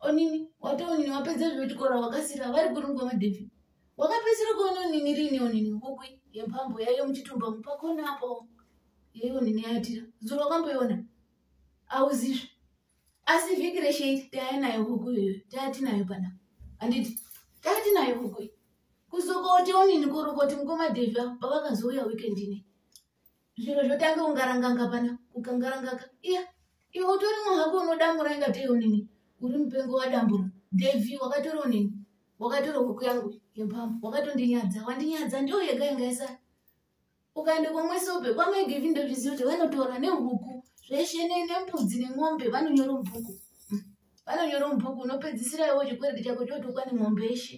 onini watoonini wapedza zvekuchikora wakasira vari kuri mukoma david wakapedzisira kuona onini riini onini hukwi yempambo yaiyo muchitumba mupakona apo yaiyo onini yaatira zuro wakamboiona auzizve asi vhiki reshe taya nayo huku iyoyo taya tinayo pana handiti taya tinayo huku kuzokoti onini kurukoti mukoma david pavakazouya weekend inei zviro zvotange kungaranganga pana ukangarangaka iya iwe utori munhu wako unodamura ingatei unini uri mupengo wadambura devi wakatori unini wakatori huku yangu yepambo wakatondinyadza wandinyadza ndiyo yega ingaisa ukaenda kwamwesobe kwamaigevi ndozviziva kuti vanotora nehuku zveshe nembudzi nemombe vanonyora mubhuku vanonyora mubhuku unopedzisira iwo chikwereti chako chotokwa nemombe yeshe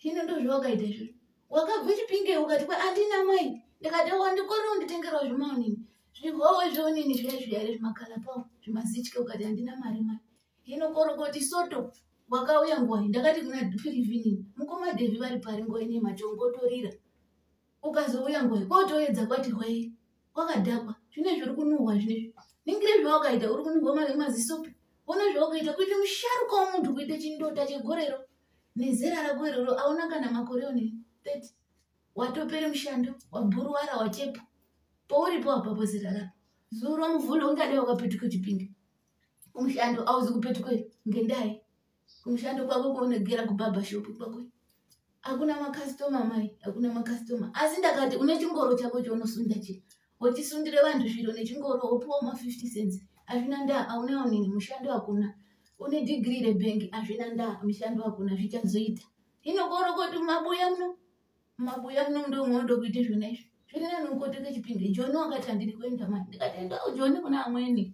hino ndozvo wakaita izvozvo wakabva chipingei ukati kwa andina mwai ndikati wandikorera unditengerawo zvimaonini zvihowe zveonini zviya zviya re zvimakala pawo zvimazitye ukati andina mari mari hino korokoti soto wakauya ngwai ndakati kuna dupirivinini mukoma devi vari pari ngwai nematongotorira ukazouya ngoyi kwotoedza kwati hwei kwakadhakwa zvine zviri kunuhwa zvinezvi ningire zvawakaita uri kunuhwa mari mazisopi ona zvawakaita kuita musharuka womunhu kuita chindota chegorero nezera rako iroro aona kana makore one thirty watopere mushando wabhuruwara wachepa pouripo apapo zera rako zuro muvhule ungadai wakapetuka chipinge kumushando auzi kupetuka ngendai kumushando kwako kwaunogera kubhabha shopu kwako hakuna makastoma mai hakuna makastoma asi ndakati une chingoro chako chaunosunda chi wochisundire vanhu zviro nechingoro wopiwa ma 50 cents hazvina ndaa auneonini mushando hakuna une dhigiri rebhengi hazvina ndaa mushando hakuna zvichazoita hino koro koti mumabuya muno mumabuya muno mundo munodo kuita zvona izvi zviri nani ukotoke chipinge joni wakati handiri kuenda mai ndikati endawo joni kuna amweni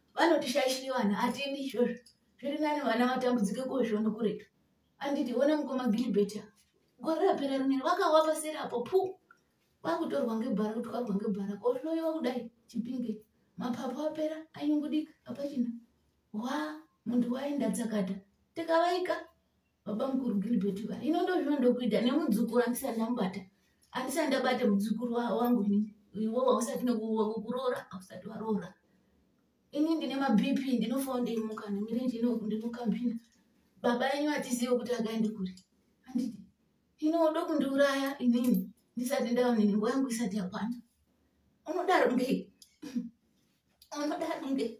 vanotishayishiri vana hatiendi izvozvo zviri nani vana vatambudzike kozvono kuretu anditi ona mukoma gilibet gore rapera rineri vakava paseri apo pu vakutorwa ngebhara kutwarwa ngebhara kohloyiwa kudai chipinge mapapu apera anyungudika apachina wa munhu waenda dzakata tikavaika baba mukuru gilbert va ino ndozvino ndokuita nemudzukuru andisati ndamubata andisati ndabata mudzukuru wangu ini iwo wausati nekuroora ausati waroora ini ndine mabp ndinofawo ndeimuka nemirenje ino ndinokambina baba enyu atizive kuti akaende kuri anditi ino udo kundiuraya inini ndisati ndaonini nguva yangu isati yakwana unodaro ngei unodaro ngei